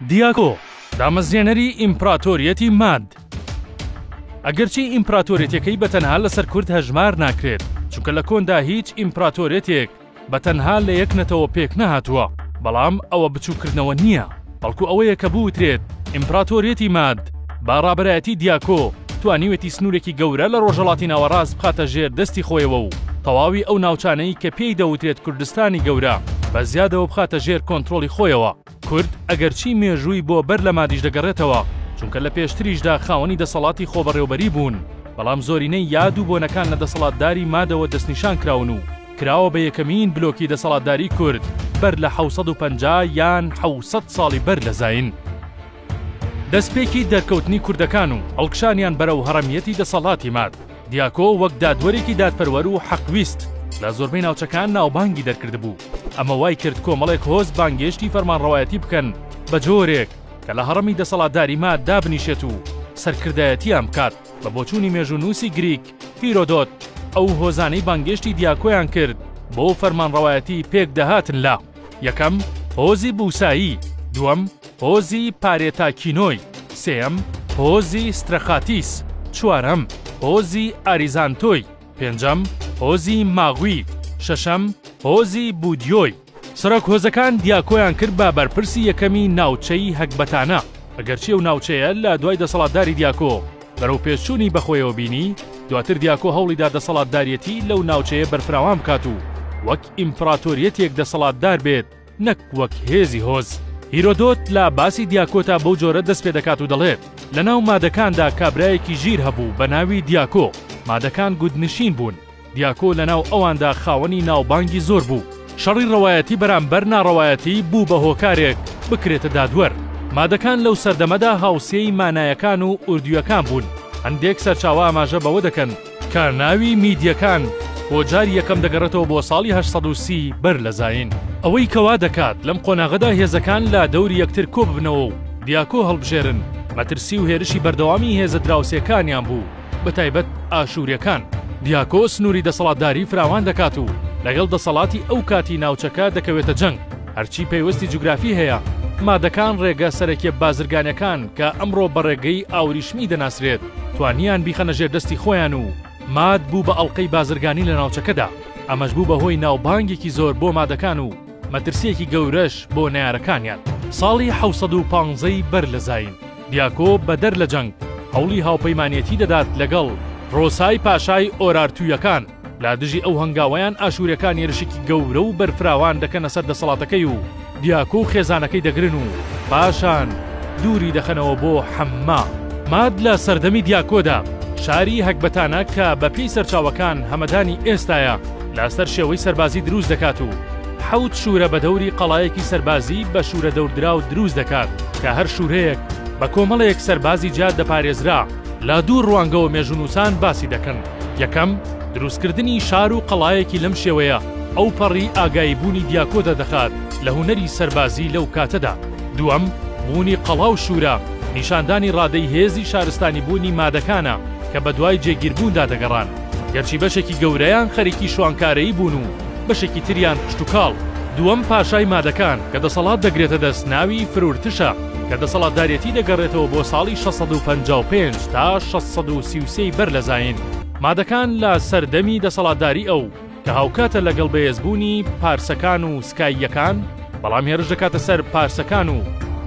دیاگۆ، دامەزرێنەری ئیمپراتۆریەتی ماد. ئەگەرچی ئیمپراتۆریەتەکەی بە تەنها لەسەر کورد هەژمار ناکرێت، چونکە لە کۆندا هیچ ئیمپراتۆریەتێک بە تەنها لە یەک نەتەوە پێک نەهاتووە، بەڵام ئەوە بچووککردنەوە نییە، بەڵکو ئەوەیە کە بوترێت ئیمپراتۆریەتی ماد، با ڕابەرایەتی دیاکۆ توانیوێتی سنوورێکی گەورە لە ڕۆژەڵاتی ناوەڕاست بخاتە ژێر دەستی خۆیەوە و تەواوی ئەو ناوچانەی کە پێی دەوترێت کوردستانی گەورە بە زیادەوە بخاتە ژێر کۆنترۆڵی خۆیەوە. کورد ئەگەرچی مێژووی بۆ بەر لە مادیش دەگەڕێتەوە، چونکە لە پێشتریشدا خاوەنی دەسەڵاتی خۆبەڕێوبەری بوون، بەڵام زۆرینەی یاد و بۆنەکان لە دەسەڵاتداری مادەوە دەستنیشان کراون و کراوە بە یەکەمین بلۆکی دەسەڵاتداری کورد بەر لە حەوت سەد و پەنجا یان حەوت سەد ساڵی بەر لە زایین. دەستپێکی دەرکەوتنی کوردەکان و هەڵکشانیان بەرەو هەڕەمیەتی دەسەڵاتی ماد، دیاکۆ وەک دادوەرێکی دادپەروەر و حەقویست لە زۆربەی ناوچەکان ناوبانگی دەرکردبوو، ئەمە وای کرد کۆمەڵێک هۆز بانگێشتی فەرمانڕەوایەتی بکەن بە جۆرێک کە لە هەڕەمی دەسەڵاتداری ماد دابنیشێت و سەرکردایەتیان بکات. بە بۆچوونی مێژوونووسی گریک هیرۆدۆت، ئەو هۆزانەی بانگێشتی دیاکۆیان کرد بۆ فەرمانڕەوایەتی پێک دەهاتن لە، یەکەم، هۆزی بوسایی، دووەم، هۆزی پارێتا کینۆی، سێیەم، هۆزی سترەخاتیس، چوارەم، هۆزی ئاریزانتۆی، پێنجەم، هۆزی ماغوی، شەشەم، هۆزی بودیۆی. سەرۆک هۆزەکان دیاکۆیان کرد بە بەرپرسی یەکەمی ناوچەی هەکبەتانە، ئەگەرچی ئەو ناوچەیە لە دوای دەسەڵاتداری دیاکۆ بەرەوپێشچوونی بەخۆیەوە بینی، دواتر دیاکۆ هەوڵیدا دەسەڵاتداریەتی لەو ناوچەیە بەرفراوان بکات و وەک ئیمپراتۆریەتێک دەسەڵاتدار بێت، نەک وەک هێزی هۆز. هیرۆدۆت لە باسی دیاکۆتا بەو جۆرە دەست پێ دەکات و دەڵێت، لە ناو مادەکاندا کابرایەکی ژیر هەبوو بە ناوی دیاکۆ، مادەکان گوندنشین بوون، دیاکۆ لە ناو ئەواندا خاوەنی ناوبانگی زۆر بوو، شەڕی ڕەوایەتی بەرامبەر ناڕەوایەتی بوو بە هۆکارێک بکرێتە دادوەر، مادەکان لەو سەردەمەدا هاوسێی مانایەکان و ئوردییەکان بوون، هەندێک سەرچاوە ئاماژە بەوە دەکەن، کە ناوی میدیەکان بۆ جاری یەکەم دەگەڕێتەوە بۆ ساڵی هەشت سەد و سی بەر لە زایین، ئەوەی کە وا دەکات لەم قۆناغەدا هێزەکان لە دەوری یەکتر کۆ ببنەوە و دیاکۆ هەڵبژێرن، مەترسی و هێرشی بەردەوامی هێزە دراوسێکانیان بوو، بە تایبەت ئاشووریەکان. دیاکۆ سنووری دەسەڵاتداری فراوان دەکات و لەگەڵ دەسەڵاتی ئەو کاتی ناوچەکە دەکەوێتە جەنگ، هەرچی پەیوەستی جوگرافی هەیە، مادەکان ڕێگە سەرەکیە بازرگانەکان کە ئەمڕۆ بە ڕێگەی ئاوریشمی دەناسرێت، توانیان بیخەنە ژێر دەستی خۆیان و ماد بوو بە ئەڵقەی بازرگانی لە ناوچەکەدا، ئەمەش بوو بە هۆی ناوبانگێکی زۆر بۆ مادەکان و مەترسییەکی گەورەش بۆ نەیارەکانیان. ساڵی حەوت سەد و پانزە ی بەر لە زایین، دیاکۆ بەدەر لە جەنگ، هەوڵی هاوپەیمانێتی دەدات لەگەڵ، رۆسای پاشای ئۆرارتوویەکان، لە دژی ئەو هەنگاوەیان ئاشوورەکان یەرشێکی گەورە و بەرفراوان دەکەنە سەر دەسەڵاتەکەی و دیاکۆ و خێزانەکەی دەگرن و پاشان دووری دەخەنەوە بۆ حەمما. ماد لە سەردەمی دیاکۆدا شاری هەکبەتانە کە بە پێی سەرچاوەکان هەمەدانی ئێستایە لە سەر شێوەی سەربازی دروست دەکات و حەوت شوورە بە دەوری قەڵایەکی سەربازی بە شوورە دەوردراو دروست دەکات کە هەر شوورەیەک بە کۆمەڵێک سەربازی جیا دەپارێزرا لە دوو ڕوانگەوە مێژوونووسان باسی دەکەن. یەکەم، دروستکردنی شار و قەڵایەکی لەم شێوەیە ئەوپەڕی ئاگایی بوونی دیاکۆ دەردەخات لە هونەری سەربازی لەو کاتەدا. دووەم، بوونی قەڵا و شوورە، نیشاندانی ڕادەی هێزی شارستانیبوونی مادەکانە کە بەدوای جێگیربووندا دەگەڕان، گەرچی بەشێکی گەورەیان خەریکی شوانکارەیی بوون و بەشێکی تریان کشتوکاڵ. دووەم، پاشای مادەکان کە دەسەڵات دەگرێتە دەست ناوی فرورتشە. کە دەسەڵاتدارێتی دەگەڕێتەوە بۆ ساڵی شەش سەد و پەنجا و پێنج تا شەش سەد و سی و سێ ی بەر لە زایین، مادەکان لە سەردەمی دەسەڵاتداری ئەو، کە هاوکاتە لەگەڵ بەێزبوونی پارسەکان و سکاییەکان، بەڵام هێرش دەکاتە سەر پارسەکان و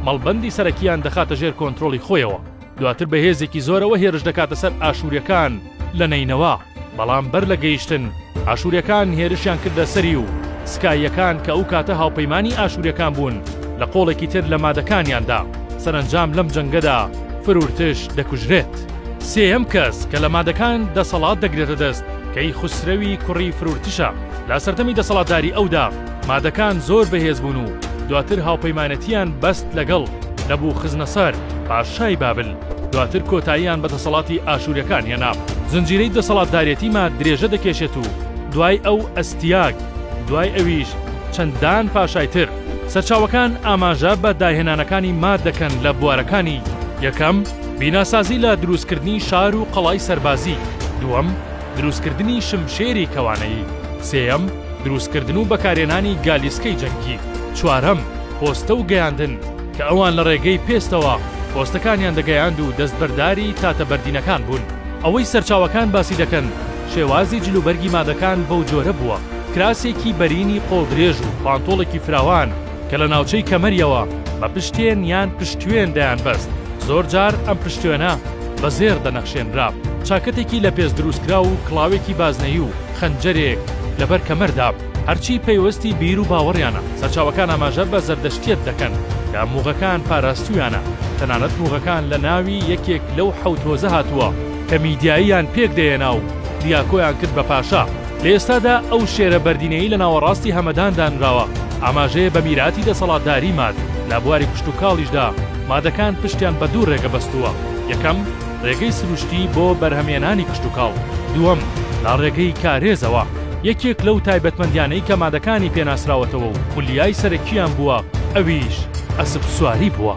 مەڵبەندی سەرەکییان دەخاتە ژێر کۆنترۆڵی خۆیەوە، دواتر بە هێزێکی زۆرەوە هێرش دەکاتە سەر ئاشووریەکان لە نەینەوا. بەڵام بەر لە گەیشتن، ئاشووریەکان هێرشیان کردە سەری و سکاییەکان کە ئەو کاتە هاوپەیمانی ئاشووریەکان بوون لە قۆڵێکی تر لە مادەکانیان دا. سەرەنجام لەم جەنگەدا فرورتش دەکوژرێت. سێیەم کەس کە لە مادەکان دەسەڵات دەگرێتە دەست، کەیخوسرەوی کوڕی فرورتشە. لە سەردەمی دەسەڵاتداری ئەودا مادەکان زۆر بەهێز بوون و دواتر هاوپەیمانەتییان بەست لەگەڵ، نەبوخزنەسەر، پاشای بابل. دواتر کۆتاییان بە دەسەڵاتی ئاشوریەکان هێنا. زنجیرەی دەسەڵاتدارێتی ماد درێژە دەکێشێت و دوای ئەو ئەستیاگ، دوای ئەویش چەندان پاشای تر. سەرچاوەکان ئاماژە بە داهێنانەکانی ماد دەکەن لە بوارەکانی، یەکەم، بیناسازی لە دروستکردنی شار و قەڵای سەربازی، دووەم، دروستکردنی شمشێری کەوانەیی، سێیەم، دروستکردن و بەکارهێنانی گالیسکەی جەنگی، چوارەم، پۆستە و گەیاندن، کە ئەوان لە ڕێگەی پێستەوە پۆستەکانیان دەگەیاند و دەستبەرداری تاتە بەردینەکان بوون. ئەوەی سەرچاوەکان باسی دەکەن شێوازی جلوبەرگی مادەکان بەو جۆرە بووە، کراسێکی بەرینی قۆڵ درێژ و پانتۆڵێکی فراوان کە لە ناوچەی کەمەریەوە بە پشتێن یان پشتوێن دەیان بەست، زۆرجار ئەم پشتوێنە بە زێڕ دەنەخشێنرا، چاکەتێکی لە پێست دروستکراو و کڵاوێکی بازنەیی و خەنجەرێک لەبەر کەمەردا. هەرچی پەیوەستی بیر و باوەڕیانە، سەرچاوەکان ئاماژە بە زەردەشتیەت دەکەن کە موغەکان پاراستوویانە، تەنانەت موغەکان لە ناوی یەکێک لەو حەوت هۆزە هاتووە کە میدیاییان پێکدەهێنا و دیاکۆیان کرد بە پاشا، لە ئێستادا ئەو شێرە بەردینەی لە ناوەڕاستی هەمەدان دانراوە ئاماژەیە بە میراتی دەسەڵاتداری ماد، لە بواری کشتوکاڵیشدا مادەکان پشتیان بە دوو ڕێگە بەستووە، یەکەم، ڕێگەی سروشتی بۆ بەرهەمهێنانی کشتوکاڵ، دووەم، لە ڕێگەی کارێزەوە. یەکێک لەو تایبەتمەندیانەی کە مادەکانی پێ ناسراوەتەوە و خولیای سەرەکییان بووە ئەویش ئەسپ سواری بووە.